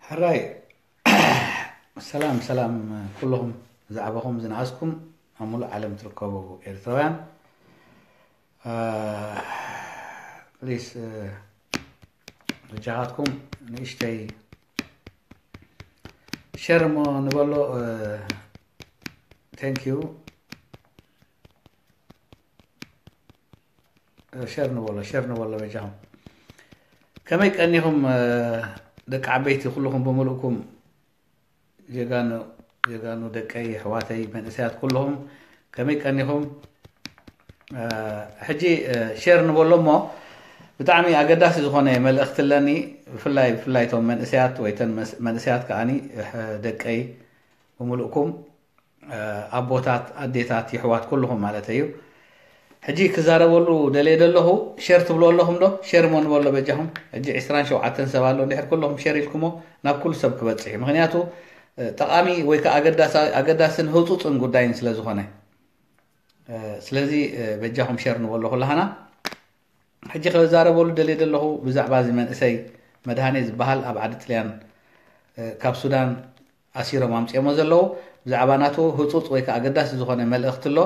ሕራይ ሰላም ሰላም ኩልኹም ዛዕባኹም ዝነኣስኩም ኣብ ሙሉእ ዓለም ትርከቡ ኤርትራውያን ፕሊስ ብጃኻትኩም ንእሽተይ ሸር እሞ ንበሎ ቴንክ ዩ ሸር ንበሎ ሸር ንበሎ በጃኹም ከመይ ቀኒኹም ደቂ ዓበይቲ ኩልኹም ብምልእኩም ጀጋኑ ጀጋኑ ደቀይ ኣሕዋተይ መንእሰያት ኩልኹም ከመይ ቀኒኹም ሕጂ ሸር ንበሎ እሞ ብጣዕሚ ኣገዳሲ ዝኾነ መልእኽቲ ኣለኒ ብፍላይ ብፍላይ እቶም መንእሰያት ወይ ተን መንእሰያት ከዓኒ ደቀይ ብምልእኩም ኣቦታት ኣዴታት ይሕዋት ኩሉኹም ማለተይ እዩ ሕጂ ክዛረበሉ ደልየ ደለኹ ሸር ትብልዎ ኣለኹም ዶ ሸር እሞ ንበሎ በጃኹም ሕጂ ዕስራን ሸውዓተን ሰብ ኣሎ እንድሕር ኩለኹም ሸር ኢልኩሞ ናብ ኩሉ ሰብ ክበጽሕ እዩ ምክንያቱ ጠቓሚ ወይ ከዓ ኣገዳስን ህፁፅን ጉዳይን ስለ ዝኾነ ስለዚ በጃኹም ሸር ንበሎ ኩላሃና ሕጂ ከዛረበሉ ደልየ ዘለኹ ብዛዕባ እዚ መንእሰይ መድሃኔ ዝበሃል ኣብ ዓዲ ጥልያን ካብ ሱዳን ኣሲሮም ኣምጺኦሞ ዘለዉ ብዛዕባ ናቱ ህጹጽ ወይ ከኣ ኣገዳሲ ዝኾነ መልእኽቲ ኣሎ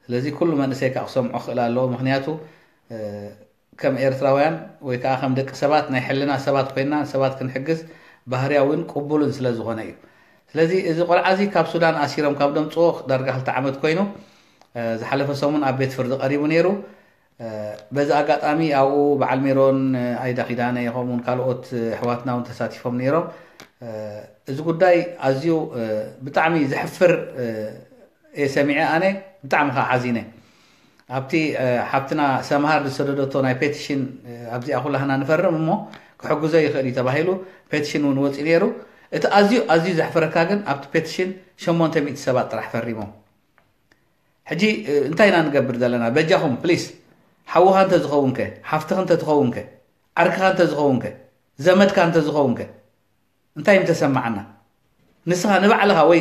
ስለዚ ኩሉ መንእሰይ ከኣ ክሰምዖ ክኽእል ኣለዎ ምኽንያቱ ከም ኤርትራውያን ወይ ከኣ ከም ደቂ ሰባት ናይ ሕልና ሰባት ኮይና ንሰባት ክንሕግዝ ባህርያዊን ቅቡልን ስለ ዝኾነ እዩ ስለዚ እዚ ቆልዓ እዚ ካብ ሱዳን ኣሲሮም ካብ ደምጽዎ ዳርጋ ክልተ ዓመት ኮይኑ ዝሓለፈ ሰሙን ኣብ ቤት ፍርዲ ቀሪቡ ነይሩ በዚ ኣጋጣሚ ኣብኡ በዓል ሜሮን ኣይዳ ኪዳነ ከምኡ ውን ካልኦት ኣሕዋትና ውን ተሳቲፎም ነይሮም እዚ ጉዳይ ኣዝዩ ብጣዕሚ ዘሕፍር እየ ሰሚዐ ኣነ ብጣዕሚ ከዓ ሓዚነ ኣብቲ ሓብትና ሰምሃር ዝሰደደቶ ናይ ፔቲሽን ኣብዚኣ ኩላህና ንፈርም እሞ ክሕግዞ ይኽእል እዩ ተባሂሉ ፔቲሽን እውን ወፂኡ ነይሩ እቲ ኣዝዩ ኣዝዩ ዘሕፍረካ ግን ኣብቲ ፔቲሽን 800 ሰባት ጥራሕ ፈሪሞም ሕጂ እንታይ ኢና ንገብር ዘለና በጃኹም ፕሊስ ሓውኻ እንተ ዝኸውን ከ ሓፍትኽ እንተ ትኸውን ከ ዓርክኻ እንተ ዝኸውን ከ ዘመድካ እንተ ዝኸውን ከ እንታይ ምተሰማዓና ንስኻ ንባዕልኻ ወይ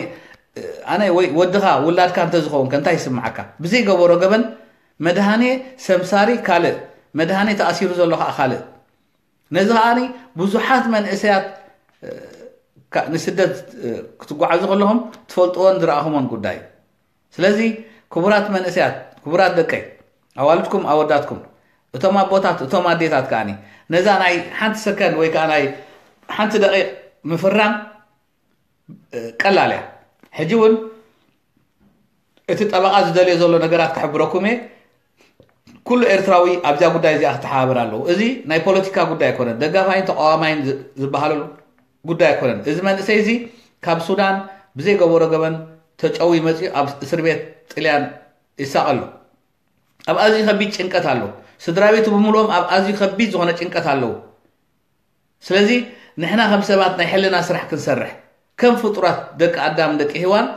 ኣነ ወይ ወድኻ ውላድካ እንተ ዝኸውን ከ እንታይ ይስምዓካ ብዘይ ገበሮ ገበን መድሃኔ ሰምሳሪ ካልእ መድሃኔ ተኣሲሩ ዘሎ ከዓ ካልእ ነዚ ከኣ ብዙሓት መንእሰያት ንስደት ክትጓዓዙ ከለኹም ትፈልጥዎን ዝረኣኹሞን ጉዳይ እዩ ስለዚ ክቡራት መንእሰያት ክቡራት ደቀይ ኣዋልድኩም ኣወዳትኩም እቶም ኣቦታት እቶም ኣዴታት ከዓኒ ነዛ ናይ ሓንቲ ሰከንድ ወይ ከዓ ናይ ሓንቲ ደቂቕ ምፍራም ቀላል እያ ሕጂ እውን እቲ ጠበቓ ዝደልዮ ዘሎ ነገራት ክሕብረኩም እየ ኩሉ ኤርትራዊ ኣብዛ ጉዳይ እዚኣ ክተሓባበር ኣለዎ እዚ ናይ ፖለቲካ ጉዳይ ኣይኮነን ደጋፋይን ተቃዋማይን ዝበሃሉ ጉዳይ ኣይኮነን እዚ መንእሰይ እዚ ካብ ሱዳን ብዘይገበሮ ገበን ተጨዊ መፅኡ ኣብ እስር ቤት ጥልያን ይሳቐ ኣሎ ኣብ ኣዝዩ ከቢድ ጭንቀት ኣሎ ስድራ ቤቱ ብምልኦም ኣብ ኣዝዩ ከቢድ ዝኾነ ጭንቀት ኣለዉ ስለዚ ንሕና ከም ሰባት ናይ ሕልና ስራሕ ክንሰርሕ ከም ፍጡራት ደቂ ኣዳም ደቂ ሂዋን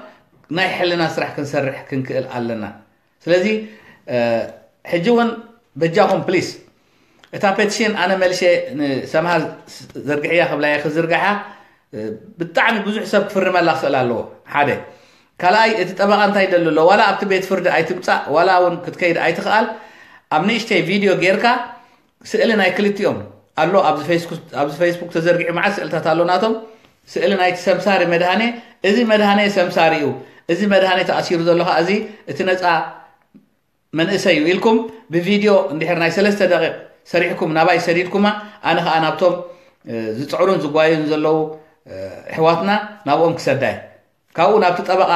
ናይ ሕልና ስራሕ ክንሰርሕ ክንክእል ኣለና ስለዚ ሕጂ እውን በጃኹም ፕሊስ እታ ፔቲሽን ኣነ መልሸ ንሰምሃር ዘርግሕያ ክብላ እየ ክዝርግሓ ብጣዕሚ ብዙሕ ሰብ ክፍርመላ ክኽእል ኣለዎ ሓደ ካልኣይ እቲ ጠበቓ እንታይ ይደሊ ኣሎ ዋላ ኣብቲ ቤት ፍርዲ ኣይትምፃእ ዋላ እውን ክትከይድ ኣይትኽኣል ኣብ ንእሽተይ ቪድዮ ጌርካ ስእሊ ናይ ክልቲኦም ኣሎ ኣብዚ ፈይስቡክ ተዘርጊሑ መዓት ስእልታት ኣሎ ናቶም ስእሊ ናይቲ ሰምሳሪ መድሃኔ እዚ መድሃኔ ሰምሳሪ እዩ እዚ መድሃኔ ተኣሲሩ ዘሎ ከዓ እዚ እቲ ነፃ መንእሰይ እዩ ኢልኩም ብቪድዮ እንድሕር ናይ ሰለስተ ደቂቕ ሰሪሕኩም ናባይ ሰዲድኩማ ኣነ ከዓ ናብቶም ዝፅዕሩን ዝጓዩን ዘለዉ ኣሕዋትና ናብኦም ክሰዳ እየ ካብኡ ናብቲ ጠበቓ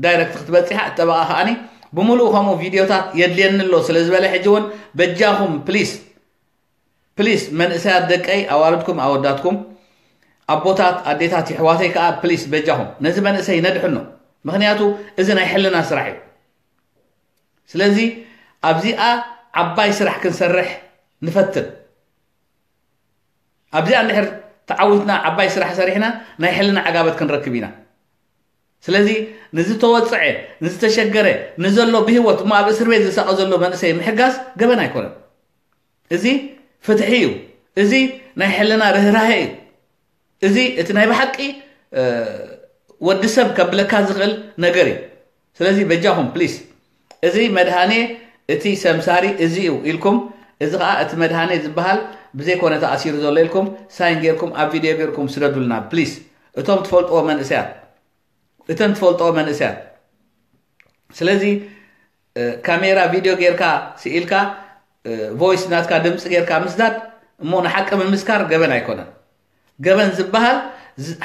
ዳይረክት ክትበፂሓ እቲ ጠበቓ ከዓኒ ብምሉኡ ከምኡ ቪድዮታት የድልየኒ ኣሎ ስለ ዝበለ ሕጂ እውን በጃኹም ፕሊስ ፕሊስ መንእሰያት ደቀይ ኣዋልድኩም ኣወዳትኩም ኣቦታት ኣዴታት ይሕዋተይ ከዓ ፕሊስ በጃኹም ነዚ መንእሰይ ነድሕኖ ምክንያቱ እዚ ናይ ሕልና ስራሕ እዩ ስለዚ ኣብዚኣ ዓባይ ስራሕ ክንሰርሕ ንፈትን ኣብዚኣ እንድሕር ተዓዊትና ዓባይ ስራሕ ሰሪሕና ናይ ሕልና ዓጋበት ክንረክብ ኢና ስለዚ ንዝተወፅዐ ንዝተሸገረ ንዘሎ ብሂወት እሞ ኣብ እስር ቤት ዝሳቐ ዘሎ መንእሰይ ምሕጋዝ ገበን ኣይኮነን እዚ ፍትሒ እዩ እዚ ናይ ሕልና ርህራሄ እዩ እዚ እቲ ናይ ብሓቂ ወዲ ሰብ ከብለካ ዝኽእል ነገር እዩ ስለዚ በጃኹም ፕሊስ እዚ መድሃኔ እቲ ሰምሳሪ እዚ እዩ ኢልኩም እዚ ከኣ እቲ መድሃኔ ዝበሃል ብዘይ ኮነ ተኣሲሩ ዘሎ ኢልኩም ሳይን ጌርኩም ኣብ ቪድዮ ጌርኩም ስደዱልና ፕሊስ እቶም ትፈልጥዎ መንእሰያት እተን ትፈልጥዎ መንእሰያት ስለዚ ካሜራ ቪድዮ ጌርካ ስኢልካ ቮይስ ናትካ ድምፂ ጌርካ ምስዳድ እሞ ንሓቂ ምምስካር ገበን ኣይኮነን ገበን ዝበሃል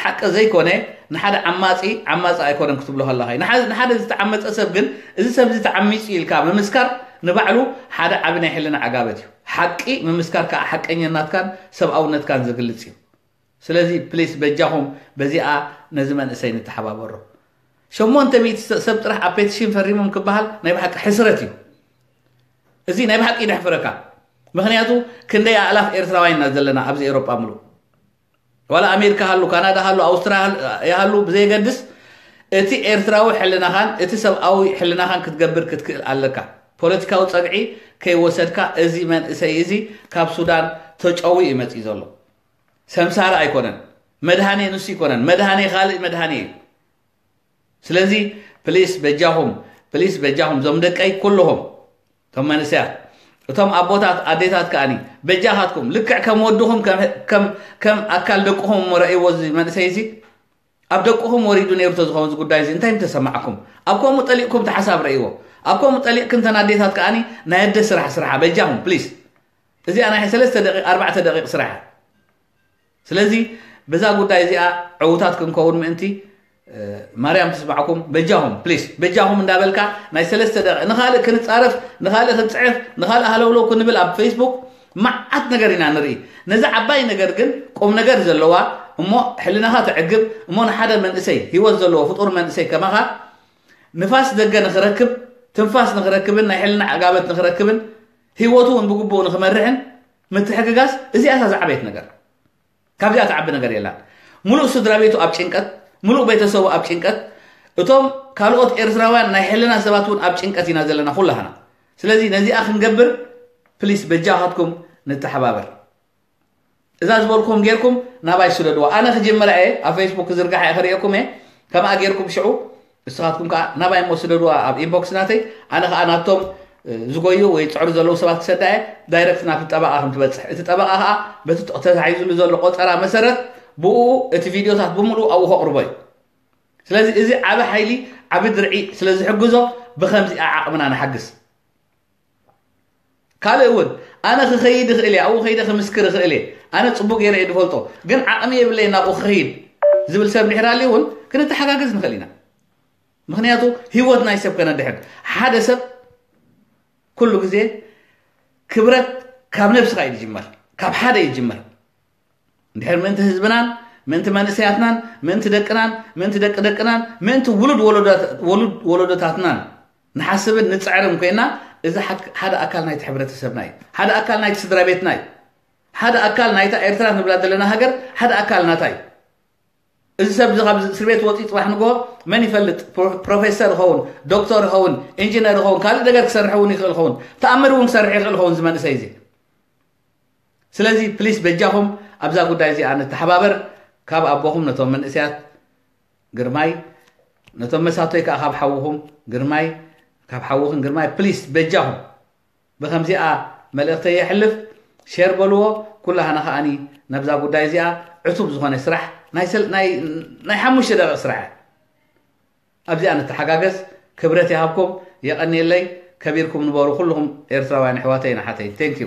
ሓቂ ዘይኮነ ንሓደ ዓማጺ ዓማጺ ኣይኮነን ክትብሎ ከለኻ እዩ። ንሓ- ንሓደ ዝተዓመጸ ሰብ ግን እዚ ሰብ እዚ ተዓሚጹ እዩ ኢልካ ምምስካር ንባዕሉ ሓደ ዓቢ ናይ ሕልና ዓጋበት እዩ። ሓቂ ምምስካር ከዓ ሓቀኘናትካን ሰብኣውነትካን ዝግልጽ እዩ። ስለዚ ፕሊስ በጃኹም በዚኣ ነዚ መንእሰይ ንተሓባበሮ። ሸሞንተ ሚእቲ ሰብ ጥራሕ ኣብ ፔቲሽን ፈሪሞም ክበሃል ናይ ብሓቂ ሕስረት እዩ። እዚ ናይ ብሓቂ ይደሕፍረካ ምክንያቱ ክንደይ ኣእላፍ ኤርትራውያን ኢና ዘለና ኣብዚ ኤሮጳ ምሉእ ዋላ ኣሜሪካ ሃሉ ካናዳ ሃሉ ኣውስትራያ ሃሉ ብዘየገድስ እቲ ኤርትራዊ ሕልናኻን እቲ ሰብኣዊ ሕልናኻን ክትገብር ክትክእል ኣለካ ፖለቲካዊ ጸግዒ ከይወሰድካ እዚ መንእሰይ እዚ ካብ ሱዳን ተጨዊ እዩ መፅኢ ዘሎ ሰምሳሪ ኣይኮነን መድሃኔ ንሱ ይኮነን መድሃኔ ካልእ መድሃኔ እዩ ስለዚ ፕሊስ በጃኹም ፕሊስ በጃኹም ዞም ደቀይ ኩልኹም ቶም መንእሰያት እቶም ኣቦታት ኣዴታት ከኣኒ በጃኻትኩም ልክዕ ከም ወድኹም ከም ኣካል ደቅኹም እሞ ረእይዎ እዚ መንእሰይ እዚ ኣብ ደቅኹም ወሪዱ ነይሩ ተዝኸውን እዚ ጉዳይ እዚ እንታይ ምተሰማዕኩም ኣብ ከምኡ ጠሊቕኩም ተሓሳብ ረእይዎ ኣብ ከምኡ ጠሊቕክን ተን ኣዴታት ከዓኒ ናይ ኣደ ስራሕ ስራሓ በጃኹም ፕሊስ እዚኣ ናይ ሰለስተ ደቂቕ ኣርባዕተ ደቂቕ ስራሓ ስለዚ በዛ ጉዳይ እዚኣ ዕውታት ክንከውን ምእንቲ ማርያም ትስማዕኩም በጃኹም ፕሊስ በጃኹም እንዳበልካ ናይ ሰለስተ ደቂቕ ንኻልእ ክንፃረፍ ንኻልእ ክንፅዕፍ ንኻልእ ሃለውለው ክንብል ኣብ ፌስቡክ መዓት ነገር ኢና ንርኢ ነዚ ዓባይ ነገር ግን ቁም ነገር ዘለዋ እሞ ሕልናኻ ተዕግብ እሞ ንሓደ መንእሰይ ሂወት ዘለዎ ፍጡር መንእሰይ ከማኻ ንፋስ ደገ ንኽረክብ ትንፋስ ንኽረክብን ናይ ሕልና ዕጋበት ንኽረክብን ሂወቱ እውን ብግቡእ ንኽመርሕን ምትሕግጋዝ እዚኣ እታ ዝዓበየት ነገር ካብዚኣ ትዓቢ ነገር የላን ሙሉእ ስድራ ቤቱ ኣብ ጭንቀት ሙሉእ ቤተሰቡ ኣብ ጭንቀት እቶም ካልኦት ኤርትራውያን ናይ ሕልና ሰባት እውን ኣብ ጭንቀት ኢና ዘለና ኩላህና ስለዚ ነዚኣ ክንገብር ፕሊስ በጃኻትኩም ንተሓባበር እዛ ዝበልኩም ጌርኩም ናባይ ስደድዋ ኣነ ክጅምራ እየ ኣብ ፌስቡክ ክዝርግሓ እየ ክርእየኩም እየ ከምኣ ጌርኩም ሽዑ ንስኻትኩም ከኣ ናባይ እሞ ስደዱዋ ኣብ ኢንቦክስ ናተይ ኣነ ከኣ ናብቶም ዝጎዩ ወይ ዝጽዕሩ ዘለዉ ሰባት ክሰዳ እየ ዳይረክት ናብቲ ጠበቓ ከም ትበጽሕ እቲ ጠበቓ ከኣ በቲ ተታሒዙሉ ዘሎ ቆጸራ መሰረት ብኡ እቲ ቪድዮታት ብምሉኡ ኣብኡ ከቕርቦ እዩ ስለዚ እዚ ዓቢ ሓይሊ ዓቢ ድርዒ ስለ ዝሕግዞ ብከምዚኣ ዓቕምና ንሓግዝ ካልእ እውን ኣነ ክኸይድ ይኽእል እየ ኣብኡ ከይደ ክምስክር ይኽእል እየ ኣነ ፅቡቅ ገይረ እየ ዝፈልጦ ግን ዓቕሚ የብለይን ናብኡ ክኸይድ ዝብል ሰብ ድሕር ኣልዩ እውን ክንተሓጋገዝ ንኽእል ኢና ምክንያቱ ህይወት ናይ ሰብ ከነድሕን ሓደ ሰብ ኩሉ ግዜ ክብረት ካብ ነብስኻ እዩ ዝጅመር ካብ ሓደ ይጅመር እንድሕር ምእንቲ ህዝብናን ምእንቲ መንእሰያትናን ምእንቲ ደቅናን ምእንቲ ደቂ ደቅናን ምእንቲ ውሉድ ወለዶታትናን ንሓስብን ንፅዕርን ኮይና እዚ ሓደ ኣካል ናይቲ ሕብረተሰብና እዩ ሓደ ኣካል ናይቲ ስድራ ቤትና እዩ ሓደ ኣካል ናይታ ኤርትራ ንብላ ዘለና ሃገር ሓደ ኣካል ናታ እዩ እዚ ሰብ እዚ ካብ እስር ቤት ወፂ ፅባሕ ንግሆ መን ይፈልጥ ፕሮፌሰር ይኸውን ዶክተር ይኸውን ኢንጂነር ይኸውን ካልእ ነገር ክሰርሕ እውን ይኽእል ይኸውን ተኣምር እውን ክሰርሕ ይኽእል ይኸውን እዚ መንእሰይ እዚ ስለዚ ፕሊስ በጃኹም ኣብዛ ጉዳይ እዚኣ ንተሓባበር ካብ ኣቦኹም ነቶም መንእሰያት ግርማይ ነቶም መሳቶይ ከዓ ካብ ሓውኹም ግርማይ ካብ ሓውኽን ግርማይ ፕሊስ በጃኹም ብከምዚኣ መልእኽተይ የሕልፍ ሸር በልዎ ኩላህና ከዓኒ ናብዛ ጉዳይ እዚኣ ዕቱብ ዝኾነ ስራሕ ናይ ሓሙሽተ ደቂቕ ስራሕ ኣብዚኣ ንተሓጋገዝ ክብረት ይሃብኩም የቐኒየለይ ከቢርኩም ንበሩ ኩልኹም ኤርትራውያን ኣሕዋተይን ኣሓተይን ቴንክ ዩ